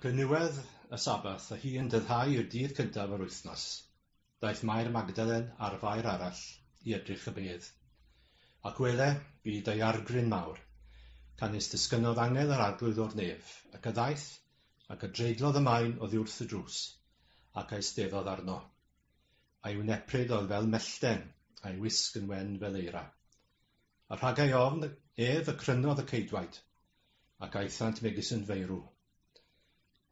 Ac yn niwedd y Sabbath, a hi yn dyddhau y dydd cyntaf yr wythnos, daeth Mair Magdalen a'r fair arall i edrych y bedd. Ac wele, bu daeargryn mawr, canys disgynnodd angel yr Arglwydd o'r nef, ac a ddaeth, ac a dreiglodd y maen oddiwrth y drws, ac a'i steddodd arno. A'i wnepryd oedd fel mellten, a'i wisg yn wen fel eira. a rhagai ofn ef y crynodd y ceidwaid, ac aethant megis yn feirw.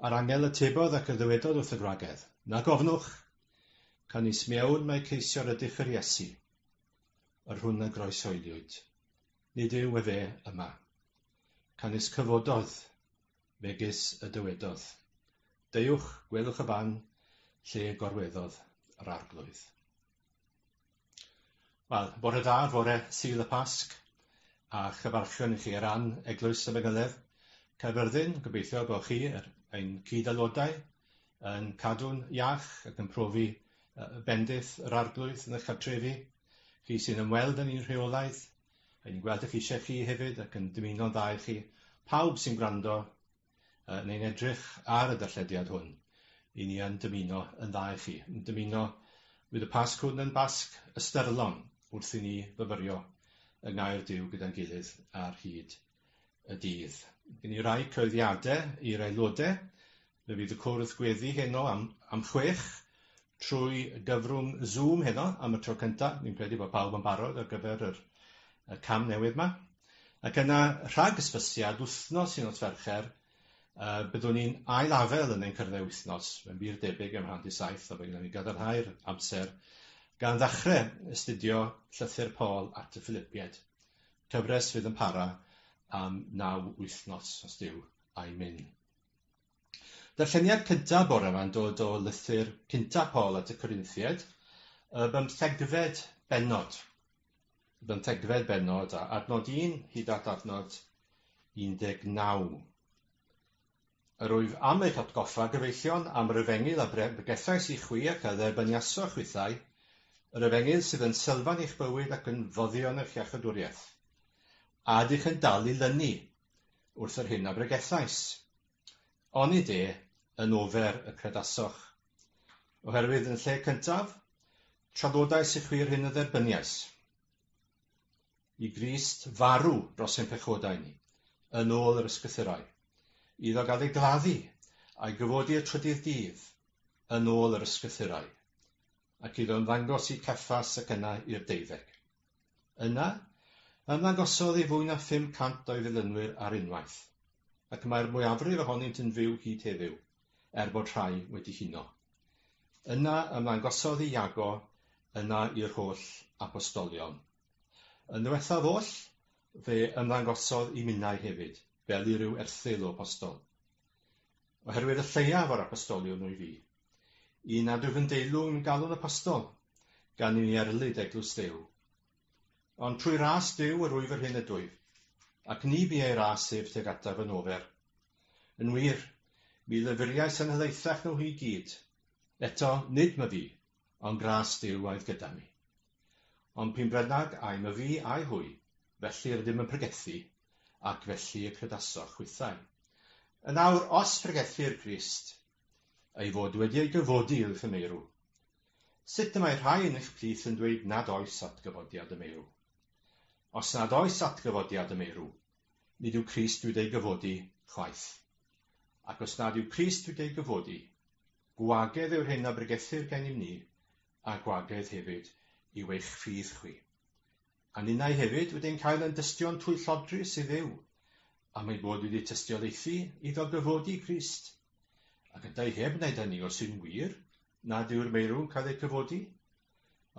A'r angel y tebodd ac y ddywedodd wrth y gwragedd, Na gofnwch! Canis mewn mae ceisio'r ydych yr Iesu, yr hwn a groesoeliwyd. Nid yw efe yma. Canis cyfododd, megis y dywedodd. Deuwch, gwelwch y fan lle gorweddodd yr arglwydd. Wel, bore da, fore Sul y Pasg, a chyfarchion i chi ar ran Eglwys y Manyddedd, Caerfyrddin. Gobeithio bod chi, yr, ein cyd-aelodau, yn cadw'n iach ac yn profi bendith yr Arglwydd yn eich cartrefi. Chi sy'n ymweld â ni'n rheolaidd, a ni'n gweld eich eisiau chi hefyd ac yn dymuno'n dda i chi. Pawb sy'n gwrando, Yy neu'n edrych ar y darllediad hwn, i ni yn dymuno yn dda i chi, yn dymuno bydd y Pasg hwn yn Basg ystyrlon wrth i ni fyfyrio yng Ngair Duw gyda'n gilydd ar hyd y dydd. Gen i rai cyhoeddiade i'r aelode. Fe fydd y cwrdd gweddi heno am am chwech trwy gyfrwng Zoom heno am y tro cynta. Fi'n credu bod pawb yn barod ar gyfer yr y cam newydd 'ma. Ac yna, rhag ysbysiad, wythnos i nos Fercher, uh, byddwn ni'n ailafel yn ein cyrddau wythnos, mae'n wir debyg am handi saith, a fe gyda ni gadarnhau'r amser, gan ddechrau astudio llythyr Paul at y Philipiaid. Cyfres fydd yn para am naw wythnos, os diw, a'i mynd. Darlleniad cyntaf bore ma'n dod o lythyr cynta Paul at y Corinthiaid, y bymthegfed bennod. Y bymthegfed bennod a adnod 1 hyd at adnod 19. Yr wyf am eich atgoffa, gyfeillion, am yr efengyl a bregethais i chwi ac a dderbyniasoch chwithau, yr efengyl sydd yn sylfaen eich bywyd ac yn foddion eich iachydwriaeth. A ydych yn dal i lynu wrth yr hyn a bregethais. Onid e yn ofer y credasoch? Oherwydd yn lle cyntaf, traddodais i chwi'r hyn y dderbyniais. I Grist farw dros ein pechodau ni, yn ôl yr ysgrythurau. Iddo gael ei gladdu a'i gyfodi y trydydd dydd, yn ôl yr ysgrythurau. Ac iddo ymddangos i Ceffas ac yna i'r deuddeg. Yna, ymddangosodd i fwy na 500 o'i ddilynwyr ar unwaith, ac mae'r mwyafrif ohonynt yn fyw hyd heddiw, er bod rhai wedi huno. Yna ymddangosodd i Iago, yna i'r holl apostolion. Yn ddiwethaf oll, fe ymddangosodd i minnau hefyd, fel i ryw erthygl o apostol. Oherwydd y lleiaf o'r apostoliwn wyf fi, un nad wyf yn deilwng galw'n apostol, gan i mi erlid eglwys Duw. Ond trwy ras Duw yr wyf yr hyn ydwyf, ac ni bu ei ras ef tuag ataf yn ofer. Yn wir, mi lyfuriais yn helaethach na nhw i gyd. Eto, nid my fi, ond gras Duw oedd gyda mi. Ond p'un brynnag ai my fi ai hwy, felly rydym yn pregethu, ac felly y credasoch chwithau. Yn awr, os pregethir Crist, ei fod wedi ei gyfodi i'w thymeirw, sut y mae rhai yn eich plith yn dweud nad oes atgyfodiad y meirw? Os nad oes atgyfodiad y meirw, nid yw Crist wedi ei gyfodi chwaith. Ac os nad yw Crist wedi ei gyfodi, Gwagedd yw'r hyn a bregethir gennym ni, a gwagedd hefyd yw eich ffydd chwi. A ninnau hefyd wedi'n cael yn dystion twyllodrus i Dduw, am ein bod wedi tystiolaethu iddo gyfodi Crist. Ac yntau heb wneud hynny os yw'n wir nad yw'r meirw'n cael eu cyfodi?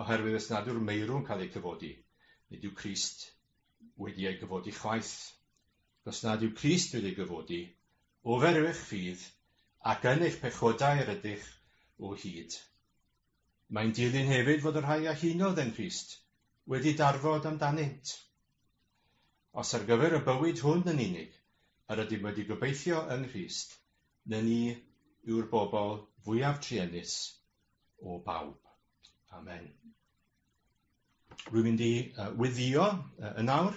Oherwydd os nad yw'r meirw'n cael eu cyfodi, nid yw Crist wedi ei gyfodi chwaith. os nad yw Crist wedi gyfodi, ofer yw'ch ffydd, ac yn eich pechodau yr ydych o hyd. Mae'n dilyn hefyd fod y rhai a hunodd yng Nghrist wedi darfod amdanynt. Os ar gyfer y bywyd hwn yn unig yr ydym wedi gobeithio yng Nghrist, na ni yw'r bobl fwyaf truenus o bawb. Amen. Rwy'n mynd i uh, weddio uh, yn awr.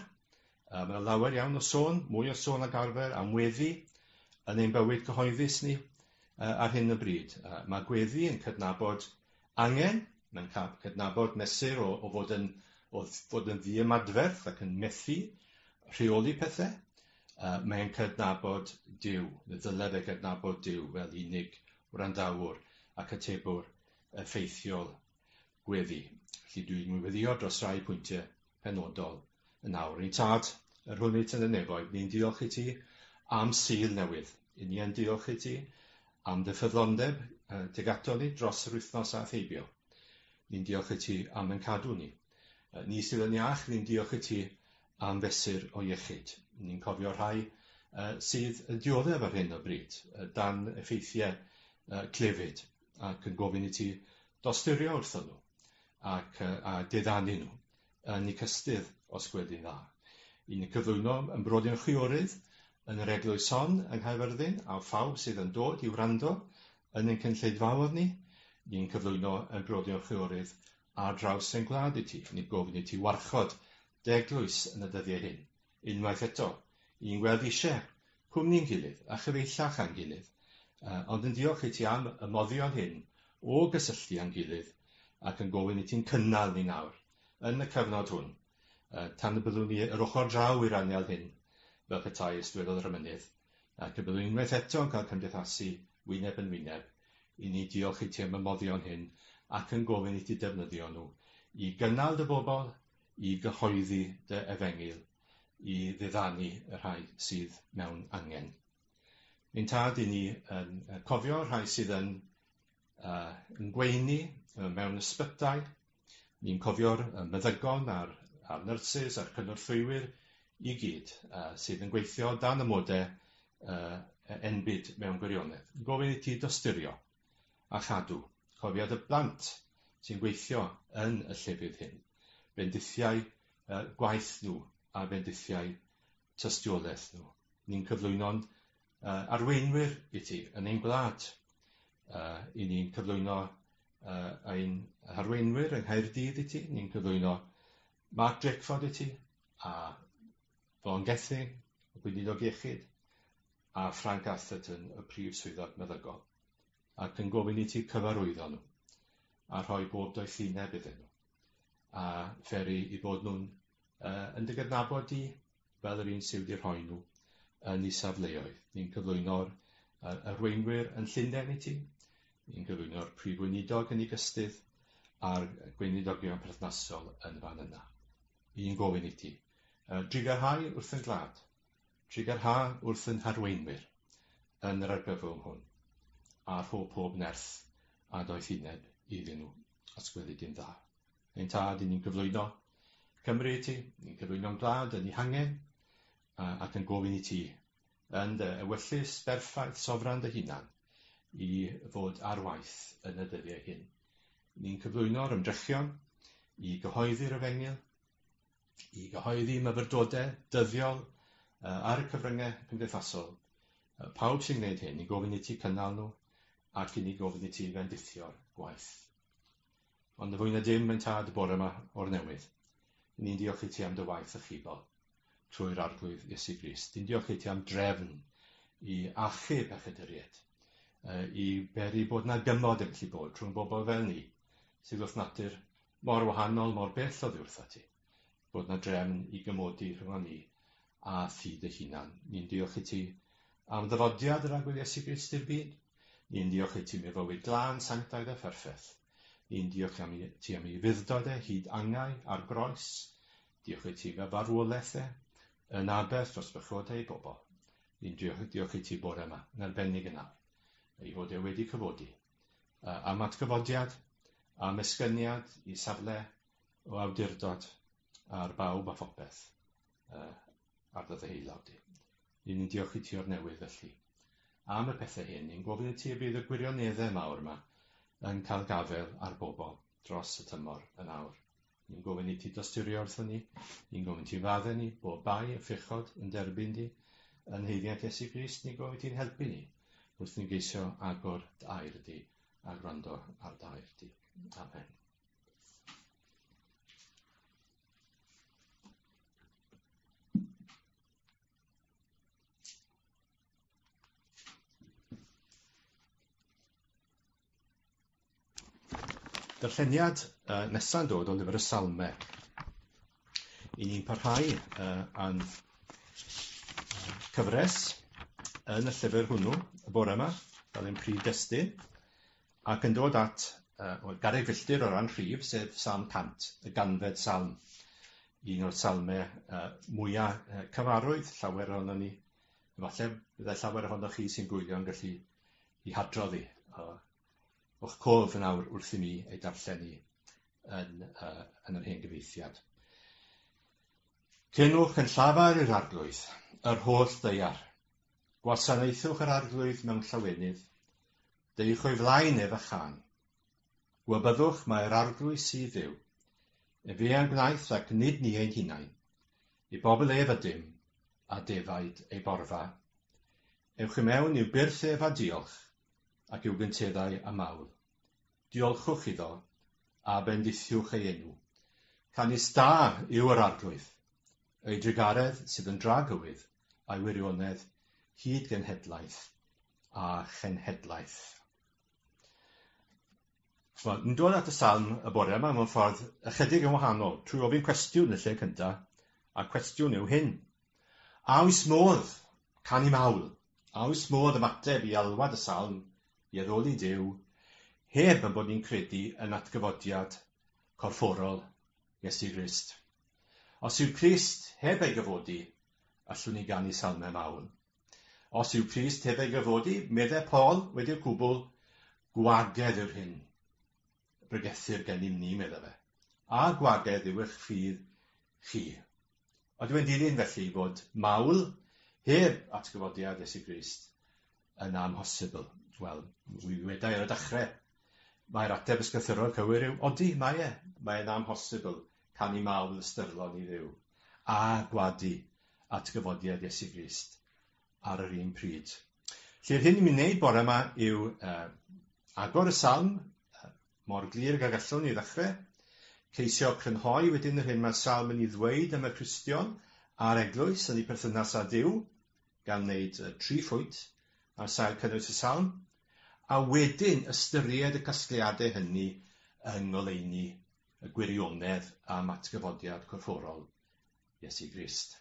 Uh, mae yna lawer iawn o sôn, mwy o sôn ag arfer am weddi yn ein bywyd cyhoeddus ni uh, ar hyn o bryd. Uh, mae gweddi yn cydnabod angen, mae'n cydnabod mesur o, o fod yn o fod yn ddiymadferth ac yn methu rheoli pethau, uh, mae'n cydnabod Dyw, neu ddylai fe gydnabod Dyw fel unig wrandawr ac atebwr effeithiol. gweddi. Felly dwi'n ngweddio dros rai pwyntiau penodol yn awr. Yn tad, yr hwn eitt yn y nefoedd, ni'n diolch i ti am Sul newydd. Yn ni yn diolch i ti am dy ffyddlondeb uh, teg ato ni dros yr wythnos aeth heibio. Ni'n diolch i ti am yn cadw ni. Uh, ni sydd yn iach, ni'n diolch i ti am fesur o iechyd. Ni'n cofio rhai uh, sydd yn dioddef ar hyn o bryd, uh, dan effeithiau uh, clefyd. ac yn gofyn i ti dosturio wrthyn nhw ac yy a diddanu nhw yn y cystudd os gwed i'n dda. Yn y cyflwyno yn brodyr chwiorydd yn yr eglwys hon yng Nghaerfyrddin a phawb sydd yn dod i wrando yn ein cynlleidfaodd ni, ni'n cyflwyno yn brodyr chwiorydd ar draws ein gwlad i ti, ni'n gofyn i ti warchod dy eglwys yn y dyddiau hyn. unwaith eto, i'n gweld eisiau cwmni'n gilydd a chyfeillach â'n gilydd, ond yn diolch i ti am y moddion hyn o gysylltu â'n gilydd ac yn gofyn i ti'n cynnal ni nawr, yn y cyfnod hwn, tan y byddwn ni yr ochr draw i'r anial hyn, fel petai, ysdywedodd yr emynydd, ac y byddwn unwaith eto yn cael cymdeithasu wyneb yn wyneb, i ni diolch i ti am y moddion hyn ac yn gofyn i ti defnyddio nhw i gynnal dy bobl i gyhoeddi dy efengyl i ddiddanu y rhai sydd mewn angen. Ein tad i ni yn cofio rhai sydd yn uh, yn gweini mewn ysbytai. Ni'n cofio'r meddygon a'r, a'r nyrsys a'r cynorthwywyr i gyd uh, sydd yn gweithio dan y mode uh, enbyd mewn gwirionedd. Gofyn i ti dosturio a chadw. Cofiad y plant sy'n gweithio yn y llefydd hyn, bendithiau gwaith nhw a bendithiau tystiolaeth nhw. Ni'n cyflwyno'n arweinwyr i ti yn ein gwlad. I ni'n cyflwyno ein harweinwyr yng Nghaerdydd i ti. Ni'n cyflwyno Mark Drakeford i ti a Vaughan Gething, y Gweinidog Iechyd, a Frank Atherton y Prif Swyddog Meddygol, ac yn gofyn i ti cyfarwyddo nhw, a rhoi bob doethineb iddyn nhw, a pheri i bod nhw'n uh, yn dy gydnabod di fel yr un sydd wedi rhoi nhw yn ei safleoedd. Ni'n cyflwyno'r uh, arweinwyr yn Llundain i ti, ni'n cyflwyno'r prif weinidog yn ei gystydd, a'r gweinidogion perthnasol yn fan yna. Ni'n gofyn i ti, uh, drigarhau wrth yn glad, Trigger ha wrth ein harweinwyr yn yr argyfwng hwn, a rho pob nerth a doethineb iddyn nhw, os gweli di'n dda. Ein tad, i ni'n cyflwyno Cymru i ti, ni'n cyflwyno'n gwlad yn ei hangen, ac yn gofyn i ti, yn dy ewyllys berffaith sofran dy hunan, i fod ar waith yn y dyddiau hyn. Ni'n cyflwyno'r ymdrechion i gyhoeddi'r efengyl, i gyhoeddi myfyrdodau dyddiol ar y cyfryngau cymdeithasol. Pawb sy'n gwneud hyn, ni'n gofyn i ti cynnal nhw ac i ni gofyn i ti fendithio'r gwaith. Ond y fwy na dim, mae'n tad y bore yma o'r newydd. Ni'n diolch i ti am dy waith y chibol trwy'r arglwydd Iesu Grist. Ni'n diolch i ti am drefn i achub a chyduried, i beri bod na gymod yn gallu bod rhwng bobl fel ni, sydd wrth natur mor wahanol, mor bell oddi wrtha ti, bod na drefn i gymodi rhyngon ni a thi dy hunan. Ni'n diolch i ti am ddyfodiad yr agwedd Iesu Grist i'r byd. Ni'n diolch i ti am ei fywyd glân, sanctaidd a pherffeth. Ni'n diolch am i ti am ei fuddod e hyd angau ar groes. Diolch i ti fe farwolaeth e yn aberth dros bechodau ei bobl. Ni'n diolch, diolch i ti bore yma, yn arbennig yn awr, ei fod e wedi cyfodi. yy am atgyfodiad, am esgyniad i safle o awdurdod ar bawb a phopeth yy ar dy ddeheulog di. Ni'n ni'n diolch i ti o'r newydd felly. Am y pethau hyn, ni'n gofyn i ti y bydd y gwirioneddau mawr yma yn cael gafael ar bobl dros y tymor yn awr. Ni'n gofyn i ti dosturio wrthyn ni. Ni'n gofyn ti fadde ni, bo bai, y ffechod, yn derbyn di. Yn heiddiant Iesu Grist, ni'n gofyn ti'n helpu ni. Wrth ni'n geisio agor dair di a gwrando ar dair di. Amen. Darlleniad uh, nesaf yn dod o lyfr y Salme. I ni'n parhau uh, a'n cyfres yn y llyfr hwnnw y bore yma, fel ein prif destun, ac yn dod at uh, well, garreg filltir o ran rhif, sef Salm 100, y ganfed salm, un o'r salme uh, mwyaf uh, cyfarwydd, llawer ohono ni, efallai byddai llawer ohono chi sy'n gwylio'n gallu i hadrodd i, a o'ch cof yn awr wrth i mi ei darllen i yn, uh, yn yr hen gyfeithiad. Cynwch yn llafar i'r arglwydd, yr holl ddeiar. Gwasanaethwch yr arglwydd mewn llawenydd. Deuwch o'i flaen ef a chan. Gwybyddwch mae'r arglwydd sydd fyw. Yn fe a'n gwnaeth ac nid ni ein hunain. I bobl ef ydym, a defaid ei borfa. Ewch i mewn i'w byrth ef a diolch, ac i'w gynteddau a mawl. Diolchwch iddo, a bendithiwch ei enw. Canys da yw yr Arglwydd, ei drugaredd sydd yn dra gywydd, a'i wirionedd hyd genhedlaeth a chenhedlaeth. ch'mod, ni'n dod at y Salm y bore yma mewn ffordd ychydig yn wahanol, trwy ofyn cwestiwn yn y lle cynta, a'r cwestiwn yw hyn. A oes modd canu mawl? A oes modd ymateb i alwad y Salm i addoli Duw heb yn bod ni'n credu yn atgyfodiad corfforol Iesu Grist? Os yw Crist heb ei gyfodi, allwn ni ganu salmau mawl. Os yw Crist heb ei gyfodi, meddai Paul, wedi'r cwbl, gwagedd yw'r hyn bregethir gennym ni, meddai fe, a gwagedd yw eich ffydd chi. Ond yw'n dilyn felly fod mawl heb atgyfodiad Iesu Grist yn amhosibl? Wel, mi wedai ar y dechrau, mae'r ateb ysgythyrol cywir yw, odi, mae e, mae'n amhosibl canu mawl ystyrlon i Dduw, a gwadu atgyfodiad Iesu Grist ar yr un pryd. Lly'r hyn i'n mynd wneud bore yma yw uh, agor y salm uh, mor glir ag gallwn ni ddechrau, ceisio crynhoi wedyn yr hyn mae'r salm yn ei ddweud am y Cristion a'r eglwys yn ei perthynas â Dyw, gan wneud uh, tri phwynt ar sail cynnwys y salm, a wedyn ystyried y casgliadau hynny yng ngoleuni y gwirionedd am atgyfodiad corfforol Iesu Grist.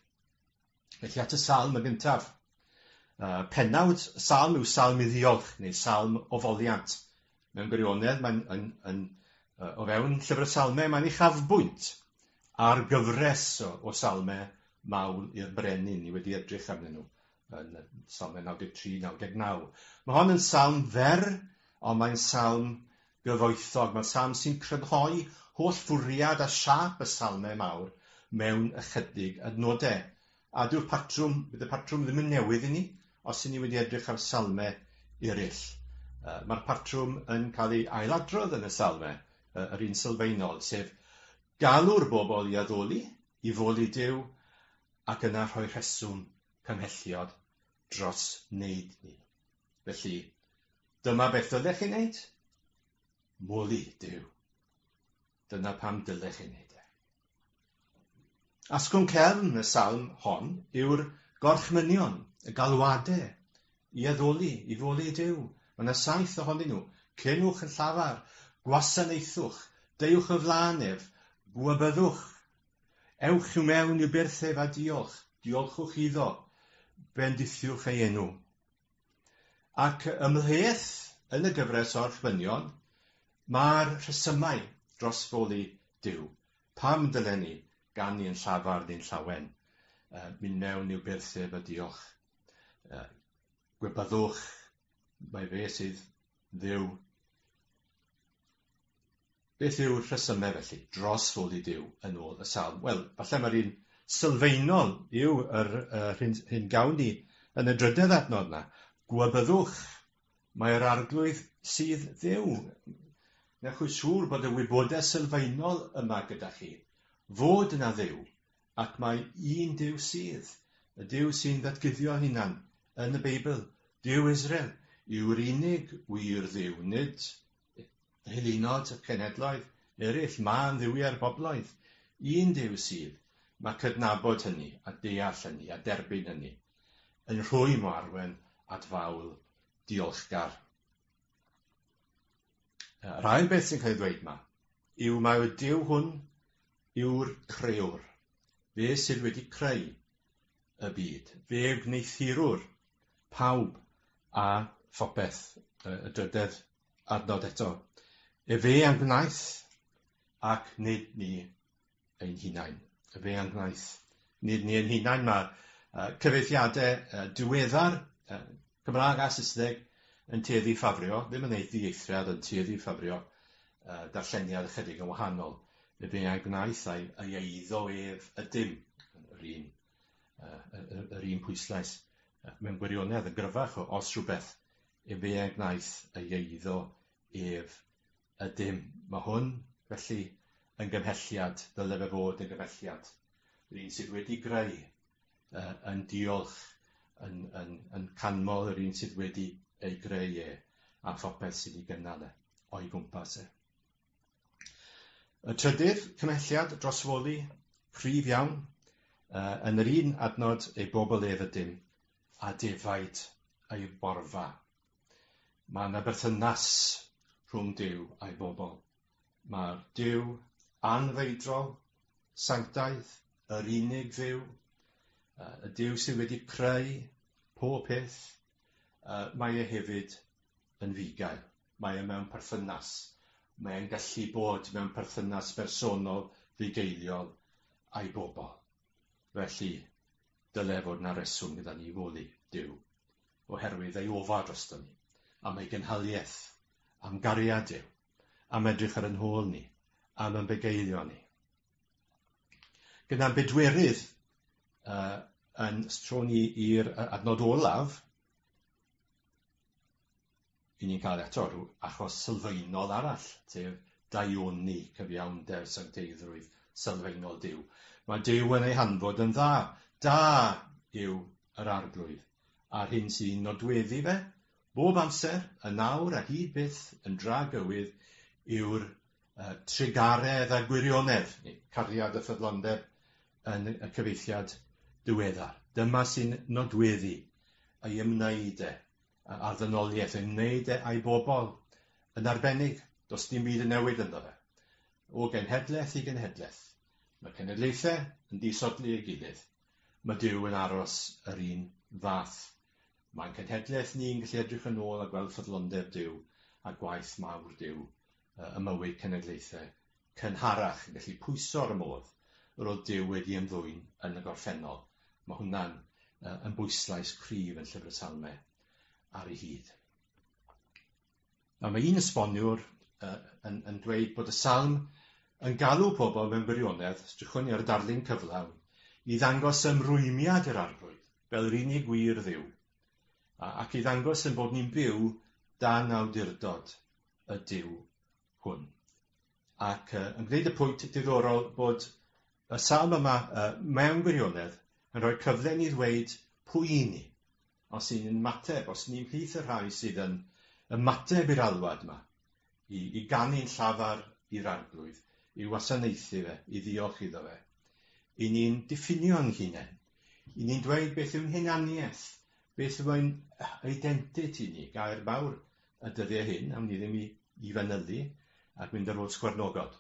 Felly at y salm y gyntaf. Uh, penawd y salm yw salm i ddiolch, neu salm o foliant. Mewn gwirionedd, mae'n yn, yn, uh, o fewn llyfr y salmau, mae'n ei chafbwynt ar gyfres o, o salmau mawl i'r brenin. Ni wedi edrych arnyn nhw yn salmau 93-99. Mae hon yn salm fer, ond mae'n salm gyfoethog. Mae'r salm sy'n crynhoi holl fwriad a siâp y salmau mawr mewn ychydig adnodau. A dyw'r patrwm, bydd y patrwm ddim yn newydd i ni os y'n ni wedi edrych ar salmau eraill. Mae'r patrwm yn cael ei ailadrodd yn y salmau, yr un sylfaenol, sef galw'r bobl i addoli, i foli Duw, ac yna rhoi rheswm cymhelliod dros wneud ni. Felly, dyma beth dylech chi wneud. Mwli Dyw. Dyna pam dylech chi wneud e. Asgwrn cefn y salm hon yw'r gorchmynion, y galwadau i addoli, i fwli Dyw. Mae yna saith ohonyn nhw. Cynwch yn llafar, gwasanaethwch, deuwch y flaen ef, gwybyddwch Ewch i mewn i'r byrth ef a diolch, diolchwch iddo, bendithiwch ei enw. Ac ymhleth yn y gyfres o'r chwynion, mae'r rhesymau dros foli Duw. Pam dylen ni ganu yn llafar neu'n llawen? Uh, mynd mewn i'w byrth ef a diolch. Uh, gwebyddwch, mae fe sydd Dduw. Beth yw'r rhesymau felly dros fod i Duw yn ôl y salm? Wel, falle mae'r un sylfaenol yw yr uh, hyn, hyn gawn ni yn y drydedd adnod yna. Gwabyddwch, mae'r arglwydd sydd ddew. Newch chi siŵr bod y wybodaeth sylfaenol yma gyda chi. Fod yna ddew, ac mae un Duw sydd, y Duw sy'n ddatguddio hunan yn y Beibl, Duw Israel, yw'r unig wir dduw, nid y hylunod, y cenhedloedd eraill, mân dduwiau'r bobloedd. Un Duw sydd, mae cydnabod hynny, a deall hynny, a derbyn hynny, yn rhwy mo arwen at fawl diolchgar. Yr ail beth sy'n cael ei ddweud yma yw mae y Duw hwn yw'r crewr, fe sydd wedi creu y byd, fe wneithurwr pawb a phopeth, y drydedd adnod eto. Efe a gwnaeth, ac nid ni. ein hunain, y fe a'n gwaith. Nid ni ein hunain, mae uh, cyfeithiadau uh, diweddar, uh, Cymraeg a Saesneg, yn tueddu ffafrio, ddim yn ei ddieithriad, yn tueddu ffafrio uh, darlleniad ychydig yn wahanol. Y fe a'i gwnaeth a'i, a'i eiddo ef ydym, yr un, uh, yr, yr un pwyslais. Uh, mewn gwirionedd yn gryfach, os rhywbeth, y fe a'i gwnaeth a'i eiddo ef Ydym. Mae hwn, felly, yn gymhelliad, dyle fe fod yn gymhelliad. Yr un sydd wedi greu uh, yn diolch yn, yn, yn canmol yr un sydd wedi ei greu e a phopeth sydd wedi gynnal e o'i gwmpas e. Y trydydd cymhelliad drosfoli prif iawn uh, yn yr un adnod ei bobl ef ydym a defaid ei borfa. Mae yna berthynas rhwng Duw a'i bobl. Mae Duw anfeidrol, sanctaidd, yr unig dduw, y Duw sydd wedi creu pob peth, mae e hefyd yn fugail. Mae e mewn perthynas. Mae e'n gallu bod mewn perthynas bersonol fugeiliol a'i bobl. Felly, dyle fod yna reswm gyda ni i foddi, Duw, oherwydd ei ofal drosto ni, am ei gynhaliaeth, am gariad Duw, am edrych ar yn hôl ni, am yn bugeilio ni. Gyda'n bedwerydd uh, yn stro ni i'r adnod olaf, i ni'n cael eto rhyw achos sylfaenol arall, sef daioni cyfiawnder sancteiddrwydd sylfaenol Duw. Mae Duw yn ei hanfod yn dda. Da yw yr arglwydd, a'r hyn sy'n nodweddu fe, bob amser, y nawr a hyd byth yn dra gywydd yw'r uh, trugaredd a gwirionedd, neu cariad a ffyddlondeb yn y cyfeithiad diweddar. Dyma sy'n nodweddu ei ymwneud e, a ddynoliaeth yn wneud e a'i bobl yn arbennig, does dim byd yn newid ynddo fe. O genhedlaeth i genhedlaeth, mae cenedlaethau yn disodli ei gilydd. Mae Duw yn aros yr un fath. Mae'n cenhedlaeth ni'n gallu edrych yn ôl a gweld ffyddlondeb Duw a gwaith mawr Duw ym mywyd cenedlaethau cynharach yn gallu pwyso ar y modd yr oedd Duw wedi ymddwyn yn y gorffennol. Mae hwnna'n uh, yn bwyslais cryf yn Llyfr y Salme ar ei hyd. Nawr mae un esboniwr uh, yn, yn dweud bod y salm yn galw pobl mewn gwirionedd, strychwn ni ar y darlun cyflawn, i ddangos ymrwymiad i'r arglwydd, fel yr unig wir ddiw, ac i ddangos yn bod ni'n byw dan awdurdod y diw hwn. Ac uh, yn gwneud y pwynt diddorol bod y salm yma uh, mewn gwirionedd yn rhoi cyfle ni ddweud pwy i ni, os y'n ni'n mateb, os ni'n plith y rhai sydd yn ymateb i'r alwad yma, i, i ganu'n llafar i'r arglwydd, i wasanaethu fe, i ddiolch iddo fe. I ni'n diffinio yn hunain, i ni'n dweud beth yw'n hunaniaeth, beth yw'n identity ni, gair fawr y dyddiau hyn, awn ni ddim i, i fanylu ac mynd ar ôl sgwarnogod.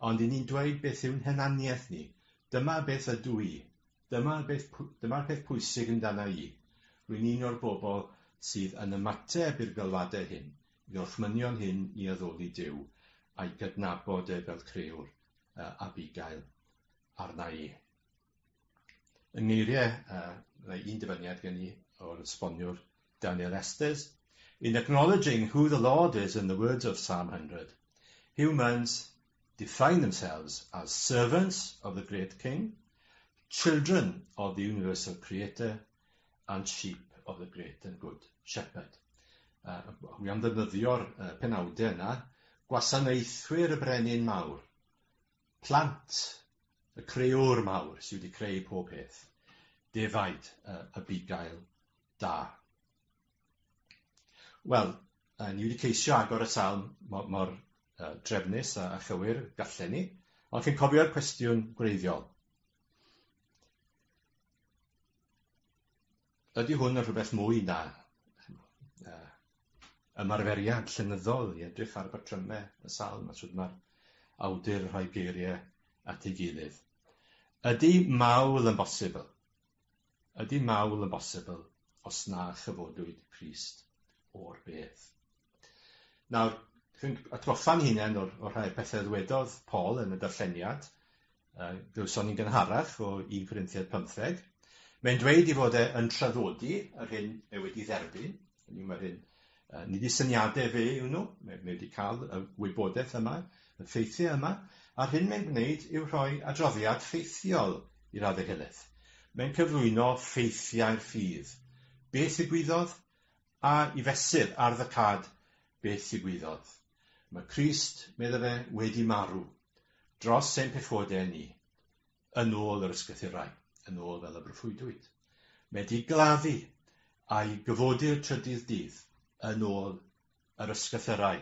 Ond i ni'n dweud beth yw'n henaniaeth ni. Dyma beth ydw i. Dyma beth, dyma'r peth pwysig amdana i. Rwy'n un o'r bobl sydd yn ymateb i'r galwadau hyn, i orchmynion hyn i addoli Dyw, a'i gydnabod e fel creewr, uh, Abigail, arna i. Yng ngeiriau a mae un dyfyniad gen i o'r esboniwr Daniel Estes, In acknowledging who the Lord is in the words of Psalm 100, humans define themselves as servants of the great King, children of the universal Creator, and sheep of the great and good Shepherd. Uh, hwy am ddefnyddio'r uh, penawdau yna, gwasanaethwyr y brenin mawr, plant, y creor mawr sydd wedi creu pob peth, defaid y, y bugail da. Wel, uh, ni wedi ceisio agor y salm mor, mor uh, drefnus a, a chywir gallen ni, ond chi'n cofio'r cwestiwn gwreiddiol. ydy hwn yn rhywbeth mwy na uh, ymarferiad llenyddol i edrych ar batryme y salm a sut mae'r awdur yn rhoi geiriau at ei gilydd. Ydy mawl yn bosibl? Ydy mawl yn bosibl os na chyfodwyd Christ o'r beth? Nawr, rwy'n atgoffa'n hunain o'r, o'r rhai pethau ddwedodd Paul yn y darlleniad, uh, glywson ni'n gynharach o 1 Corinthiad 15. Mae'n dweud i fod e yn traddodi yr hyn mae wedi dderbyn, hynny mae'r hyn, uh, nid i syniadau fe yw nhw, mae, mae wedi cael y wybodaeth yma, y ffeithiau yma, a'r hyn mae'n gwneud yw rhoi adroddiad ffeithiol i'r addehelaeth. Mae'n cyflwyno ffeithiau'r ffydd. Beth y gwyddodd? a i fesur ardd y cad beth ddigwyddodd. Mae Crist, medda fe, wedi marw dros ein pechode ni, yn ôl yr ysgrythurau, yn ôl fel y broffwydwyd. Mae di gladdu a'i gyfodir trydydd dydd, yn ôl yr ysgrythurau.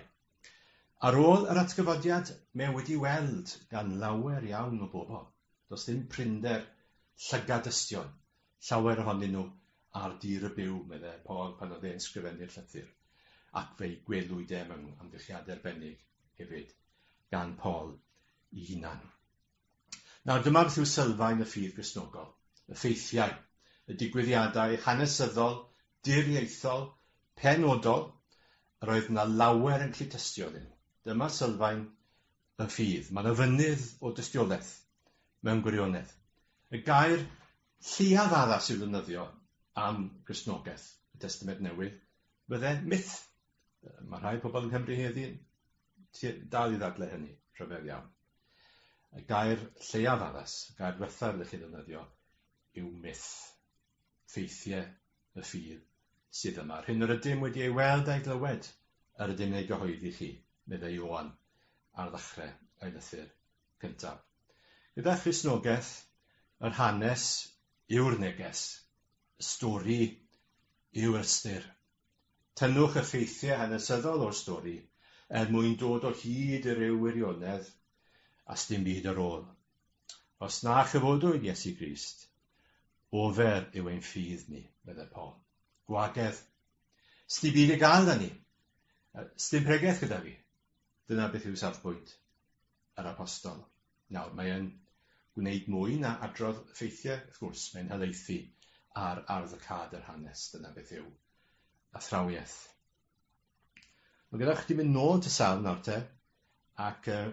Ar ôl yr atgyfodiad, mae wedi weld gan lawer iawn o bobl. Does dim prinder llygad dystion llawer ohonyn nhw ar dir y byw, meddai Paul pan oedd e'n sgrifennu'r llythyr, ac fe'i gwelwyd e mewn amgylchiadau arbennig hefyd, gan Paul i hunan. Nawr dyma beth yw sylfaen y ffydd Gristnogol, y ffeithiau, y digwyddiadau hanesyddol, diriaethol, penodol, yr oedd na lawer yn cyd-tystio âddyn nhw. Dyma sylfaen yn ffydd. Mae'n ofynydd o dystiolaeth, mewn gwirionedd. Y gair lleiaf addas i'w ddefnyddio am Gristnogaeth y Testament Newydd fydde myth. Mae rhai pobl yng Nghymru heddiw'n dal i ddadle hynny, rhyfedd iawn. Y gair lleiaf addas, y gair ddiwethaf ydych chi'n ddefnyddio, yw myth. ffeithiau y ffydd sydd yma, yr hyn yr ydym wedi ei weld a'i glywed, yr ydym yn ei gyhoeddi chi, meddai Ioan ar ddechrau ei lythyr gyntaf. Gyda Christnogaeth, yr hanes yw'r neges, y stori yw'r ystyr. Tynnwch y ffeithiau hanesyddol o'r stori er mwyn dod o hyd i ryw wirionedd a sdim byd ar ôl Os na chyfodwyd Iesu Grist, ofer yw ein ffydd ni, meddai Paul. Gwagedd. Sdi byd y gael da ni. Sdim pregeth gyda fi. Dyna beth yw safbwynt yr apostol. Nawr, mae'n gwneud mwy na adrodd ffeithiau, wrth gwrs, mae'n helaethu ar ardd y cad yr hanes, dyna beth yw athrawiaeth. Mae gyda chdi mynd nôl at y salm nawr te, ac uh,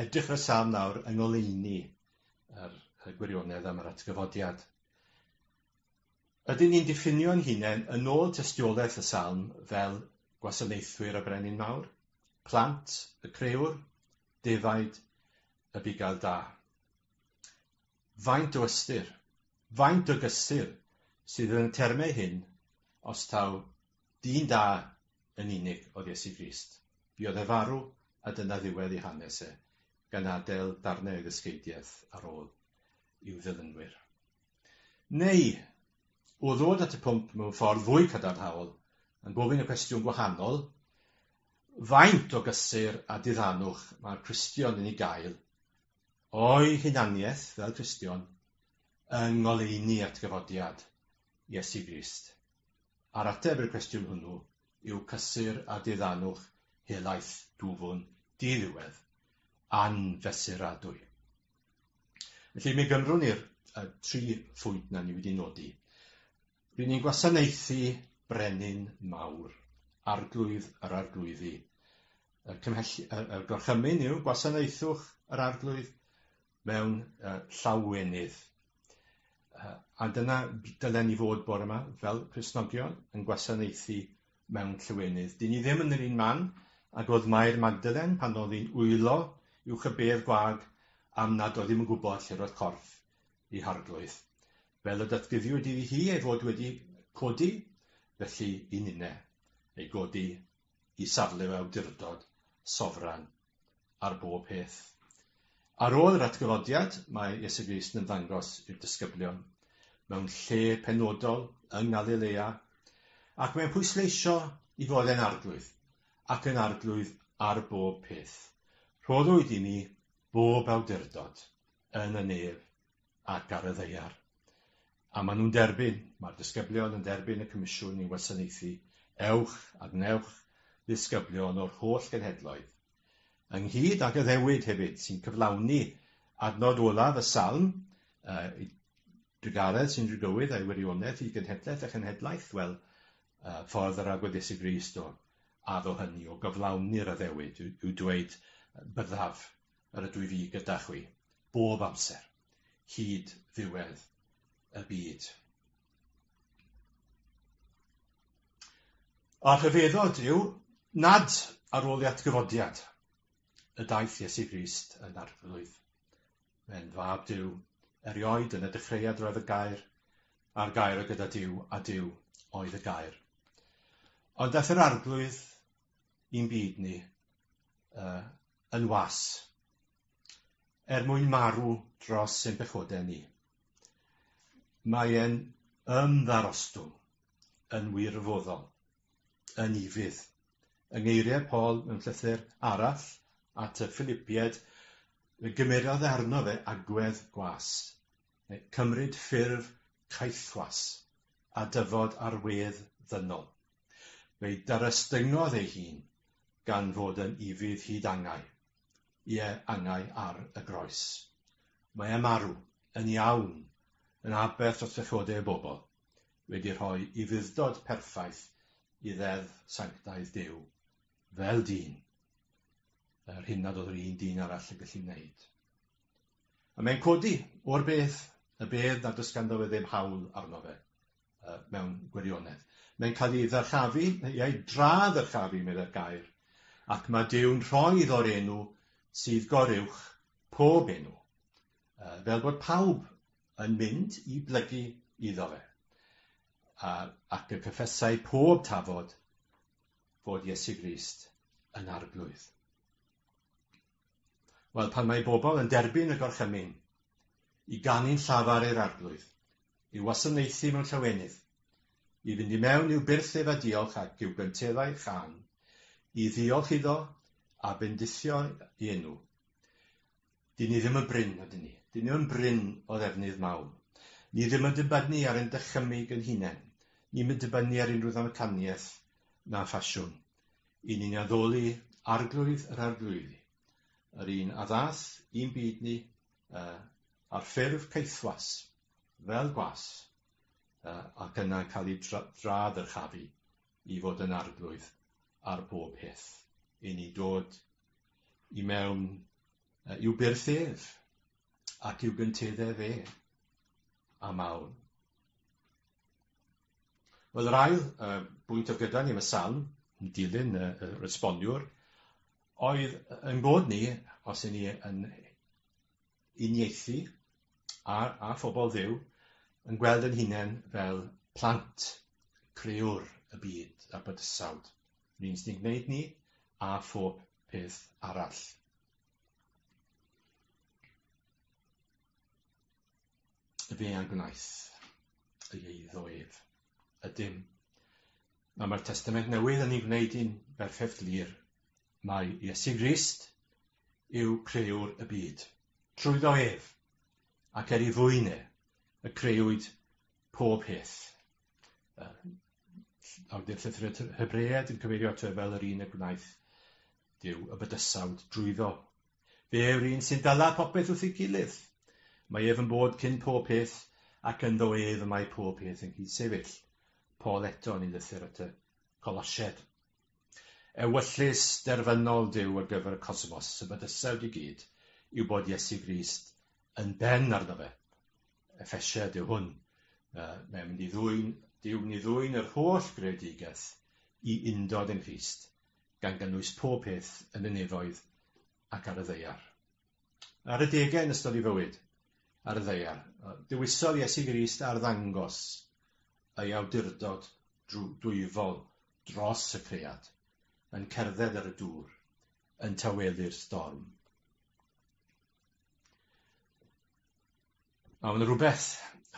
edrych ar y salm nawr yng ngoleuni yr, y gwirionedd am yr atgyfodiad. Ydyn ni'n diffinio'n hunain yn ôl tystiolaeth y salm fel gwasanaethwyr y brenin mawr, plant, y creuwr, defaid, y bugail da. Faint o ystyr, faint o gysur sydd yn y termau hyn os taw Dyn da yn unig oedd Iesu Grist. Buodd e farw a dyna ddiwedd ei hanes e, gan adael darnau o'i ddysgeidiaeth ar ôl i'w ddilynwyr. Neu, o ddod at y pwnc mewn ffordd fwy cadarnhaol, yn gofyn y cwestiwn gwahanol, faint o gysur a diddanwch mae'r Cristion yn ei gael o'i hunaniaeth fel Cristion yng ngoleuni atgyfodiad Iesu Grist? a'r ateb i'r cwestiwn hwnnw yw cysur a diddanwch helaeth dwfwn di-ddiwedd, anfesuradwy. Felly, mi gymrwn i'r uh, tri phwynt na ni wedi nodi. Rydyn ni'n gwasanaethu brenin mawr, arglwydd yr arglwyddi. Y, cymhell, y, y gorchymyn yw gwasanaethwch yr arglwydd, mewn uh, llawwenydd. Uh, a dyna dylen ni fod bore yma fel Cresnogion yn gwasanaethu mewn llywenydd. Dyn ni ddim yn yr un man ag oedd Mair Magdalen pan oedd hi'n wylo i'w chybedd gwag am nad oedd ddim yn gwybod lle roedd corff i harglwydd. Fel y datguddiwyd iddi hi ei fod wedi codi, felly i ninne, ei godi i safle awdurdod sofran ar bob peth. Ar ôl yr atgyfodiad, mae Iesu Grist yn ymddangos i'r disgyblion mewn lle penodol yng Ngalilea, ac mae'n pwysleisio i fod e'n arglwydd, ac yn arglwydd ar bob peth. Rhoddwyd i mi bob awdurdod yn y nef ac ar y ddaear. A maen nhw'n derbyn, mae'r disgyblion yn derbyn y comisiwn i wasanaethu ewch a gwnewch ddisgyblion o'r holl genhedloedd, ynghyd ag addewid hefyd, sy'n cyflawni adnod olaf y salm, uh, drugaredd sy'n drugywydd a'i wirionedd i genhedlaeth a chenhedlaeth, wel, uh, ffordd yr agweddus i Grist o addo hynny, o gyflawni'r addewid, yw dweud byddaf yr ydw i fi gyda chwi, bob amser, hyd ddiwedd y byd. A'r rhyfeddod yw nad ar ôl i atgyfodiad y daith Iesu Grist yn arglwydd. Mae'n fab Dyw, erioed yn y dechreuad roedd y gair, a'r gair o gyda Dyw, a Dyw oedd y gair. Ond daeth yr arglwydd i'n byd ni, uh, yn was, er mwyn marw dros ein pechodau ni. Mae e'n ymddarostwng yn wirfoddol, yn ifydd. Yng ngeiriau Paul mewn llythyr arall at y Philipiaid, fe gymerodd arno fe agwedd gwas, neu cymryd ffurf caethwas, a dyfod ar wedd ddynol. Fe'i darestyngodd ei hun, gan fod yn ufudd hyd angau, ie, angau ar y groes. Mae e marw, yn iawn, yn aberth dros bechodau y bobl, wedi rhoi ufudd-dod perffaith i Ddeddf sanctaidd Duw, fel dyn, yr hyn nad oedd yr un dyn arall yn gallu wneud. A mae'n codi o'r beth, y bedd nad oes ganddo fe ddim hawl arno fe. uh, mewn gwirionedd. Mae'n cael ei ddyrchafu, ei dra ddyrchafu, meddai'r gair, ac mae Dyw'n rhoi o'r enw sydd goruwch pob enw, uh, fel bod pawb yn mynd i blygu iddo fe. A, ac y cyffesau pob tafod fod Iesu Grist yn arglwydd. Wel, pan mae bobl yn derbyn y gorchymyn i ganu'n llafar i'r Arglwydd, i wasanaethu mewn llawenydd, i fynd i mewn i'w byrth ef a diolch ac i'w gynteddau chan, i ddiolch iddo a bendithio i enw, dyn ni ddim yn brin, ydyn ni? Dyn ni yn brin o ddefnydd mawn. Ni ddim yn dibynnu ar ein dychymyg yn hunain. Ni'm yn dibynnu ar unrhyw ddamcaniaeth na ffasiwn. I ni'n addoli Arglwydd yr Arglwyddi, yr un a ddaeth i'n byd ni y, ar ffurf caethwas, fel gwas, y, ac yna cael ei dra-ddyrchafu i fod yn Arglwydd ar bob peth. I ni dod i mewn y, i'w byrth ef, ac i'w gynteddau fe, am awn. Wel, yr ail uh, bwynt oedd gyda ni yn y salm, yn dilyn y, y resboniwr, oedd yn bod ni, os y'n ni yn unieithu a, a phobl ddew, yn gweld yn hunain fel plant, crewr y byd a bydysawd. Yr un sy'n gwneud ni a phob peth arall. Be a gwnaeth y eiddo ef? Ydym. Mae mae'r Testament Newydd yn ei wneud i'n berffaith glir. Mae Iesu Grist yw creuwr y byd. Trwyddo ef, ac er i fwyne, y creuwyd pob peth. Awdur llythyr Hebread yn cyfeirio ato e fel yr un y gwnaeth Dyw y bydysawd drwyddo Fe yw'r un sy'n dala popeth wrth ei gilydd. Mae ef yn bod cyn pob peth, ac ynddo ef y mae pob peth yn cyd-sefyll. Paul eto yn ei lythyr at y Colosied. Ewyllys derfynol Duw ar gyfer y cosmos, y bydysawd i gyd, yw bod Iesu Grist yn ben arno fe. Efesied yw hwn. Uh, mae'n mynd i ddwy'n Duw ni ddwy'n yr holl greadigaeth i undod yn Christ, gan gynnwys pob peth yn y nefoedd ac ar y ddaear. Ar y degau yn ystod ei fywyd, ar y ddaear, dewisodd Iesu Grist arddangos ei awdurdod dwyfol dros y cread, yn cerdded ar y dŵr, yn tawelu'r storm. A mae'n rhywbeth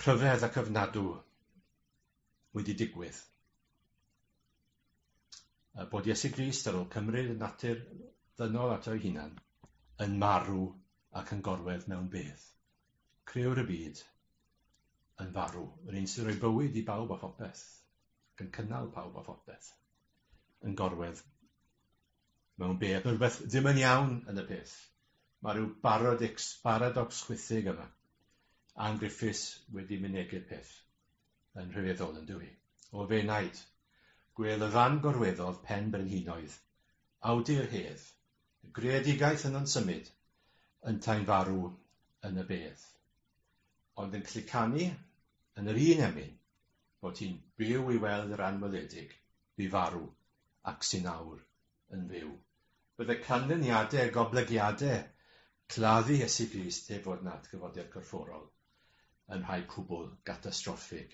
rhyfedd ac ofnadw wedi digwydd. A bod Iesu Grist ar ôl cymryd y natur ddynol ato ei hunan, yn marw ac yn gorwedd mewn bedd. Creuwr y byd yn farw, yr un sy'n rhoi bywyd i bawb a phopeth, ac yn cynnal pawb a phopeth, yn gorwedd mewn bedd. Mae rhywbeth ddim yn iawn yn y peth. Mae rhyw baradix, paradox chwithig yma. Ann Griffiths wedi mynegu'r peth. yn rhyfeddol yn dyw hi. O f'enaid! Gwêl y fan gorweddodd pen brenhinoedd, awdur hedd, y greadigaeth yno'n symud, yntau'n farw yn y bedd. Ond yn clicanu yn yr un emyn bod hi'n byw i weld yr anweledig fu farw ac sy'n awr yn fyw. Byddai canlyniadau a goblygiadau claddu Iesu Grist heb fod yn atgyfodiad corfforol yn rhai cwbl gatastroffig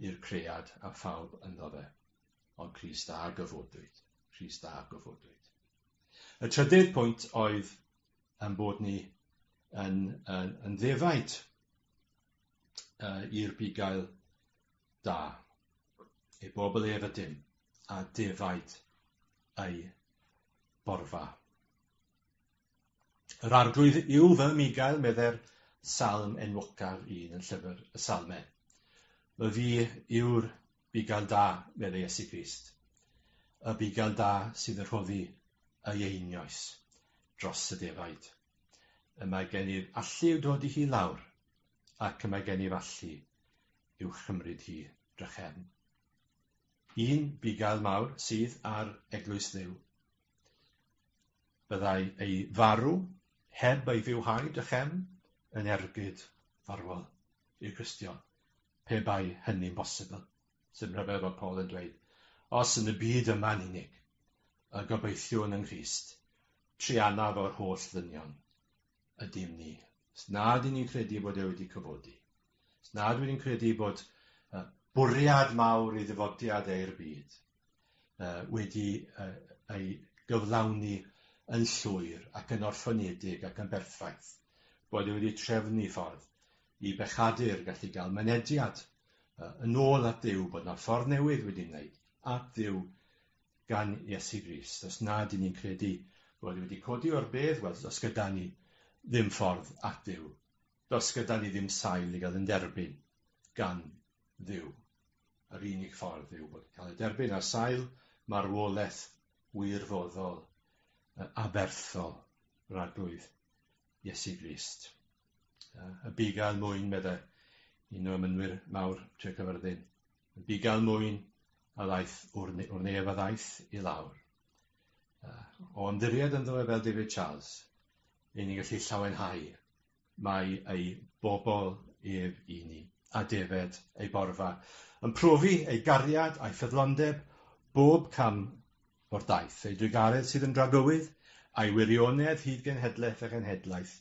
i'r cread a phawb ynddo fe. Ond Crist a gyfodwyd. Crist a gyfodwyd. Y trydydd pwynt oedd yn bod ni yn, yn, yn ddefaid. uh, i'r bugail da, ei bobl ef ydym, a defaid ei borfa. Yr arglwydd yw fy migael, medde'r salm enwocaf un yn llyfr y salmau. Fy fi yw'r bugail da, medde Iesu Grist, y bugail da sydd yn rhoddi ei einioes dros y defaid. y mae gennyf allu i'w dodi hi lawr, ac y mae gennyf allu i'w chymryd hi drachefn. Un bugail mawr sydd ar eglwys Dduw. Byddai ei farw heb ei fywhau drachefn yn ergyd farwol i'r Cristion, pe bai hynny'n bosibl. Sy'n rhyfedd bod Paul yn dweud, os yn y byd yma'n unig, y gobeithiwn yng Nghrist, trianaf o'r holl ddynion, ydym ni. Os nad y'n ni'n credu bod e wedi cyfodi, os nad wy'n ni'n credu bod uh, bwriad mawr i ddyfodiad eir byd uh, wedi uh, ei gyflawni yn llwyr ac yn orffynedig ac yn berffaith, bod e wedi trefnu ffordd i bechadur gallu gael mynediad yy yn ôl at Dduw, bod 'na ffordd newydd wedi wneud at Dduw gan Iesu Grist. Os nad 'yn ni'n credu bod e wedi codi o'r bedd, wel, does gyda ni ddim ffordd at Dduw. Does gyda ni ddim sail i gael yn derbyn gan Dduw. Yr unig ffordd yw bod cael ei derbyn ar sail marwolaeth wirfoddol, yy aberthol, yr Arglwydd Iesu Grist. Y bu gael mwyn, meddai, un o ymynwyr mawr Tre Cyfyrddin. Y bu gael mwyn a ddaeth o'r, ne o'r nef a ddaeth i lawr. Uh, o ymddiried ynddo e fel David Charles, ei ni'n gallu llawenhau mae ei bobl ef i ni, a defed ei borfa, yn profi ei gariad a'i ffyddlondeb bob cam o'r daith, ei drugaredd sydd yn dragywydd, a'i wirionedd hyd genhedlaeth a genhedlaeth,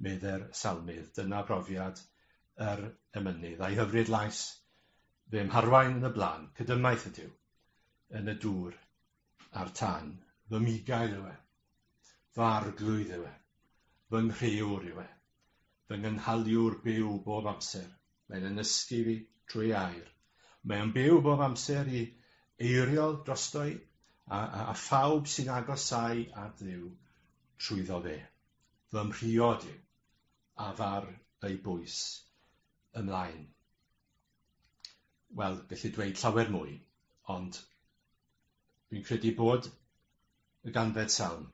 medde'r Salmydd. Dyna brofiad yr emynydd, a'i hyfryd lais, fe mharwain yn y blaen, cydymaith ydyw, yn y dŵr a'r tan. Fy migael yw e, fy arglwydd yw e, fy nghreawr yw e, fy ngynhaliwr byw bob amser. Mae'n yn nysgu fi drwy air. Mae o'n byw bob amser i eiriol drosto i, a, a, a phawb sy'n agosau at ddiw trwyddo fe. Fy mhriod yw, a far ei bwys ymlaen. Wel, gallu dweud llawer mwy, ond dwi'n credu bod y ganfed salm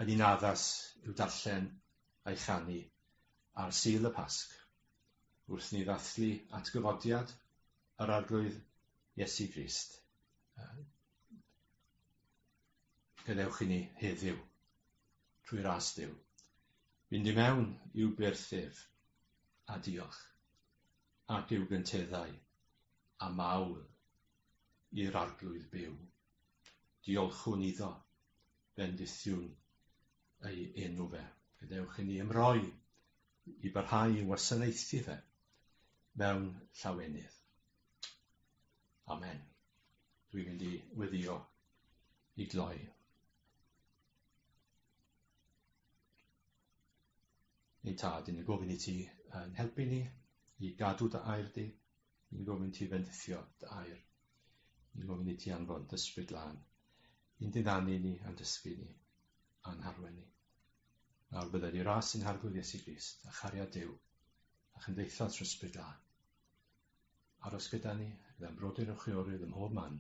yn un addas i'w darllen a'i chanu ar Sul y Pasg, wrth ni ddathlu atgyfodiad yr Arglwydd Iesu Grist. Gadewch i ni heddiw, trwy ras Dyw, fynd i mewn i'w byrth ef, a diolch, ac i'w gynteddau, a mawl i'r Arglwydd byw. Diolchwn iddo, bendithiwn ei enw fe. Gadewch i ni ymroi i barhau i wasanaethu fe mewn llawenydd. Amen. Dwi'n mynd i weddio i gloi. Ein tad, yn y gofyn i ti yn helpu ni i gadw dy air di, Ni'n gofyn ti fendithio dy air. Ni'n gofyn i ti anfon dysbryd lan. I'n diddanu ni a'n dysgu ni a'n harwen ni. Nawr byddai ni ras yn harglwydd Iesu Grist a chariad Dyw a chymdeithas rhysbryd lan. Aros gyda ni, gyda'n brodyr yn chwiorydd ym mhob man,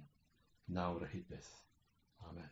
nawr a hyd byth. Amen.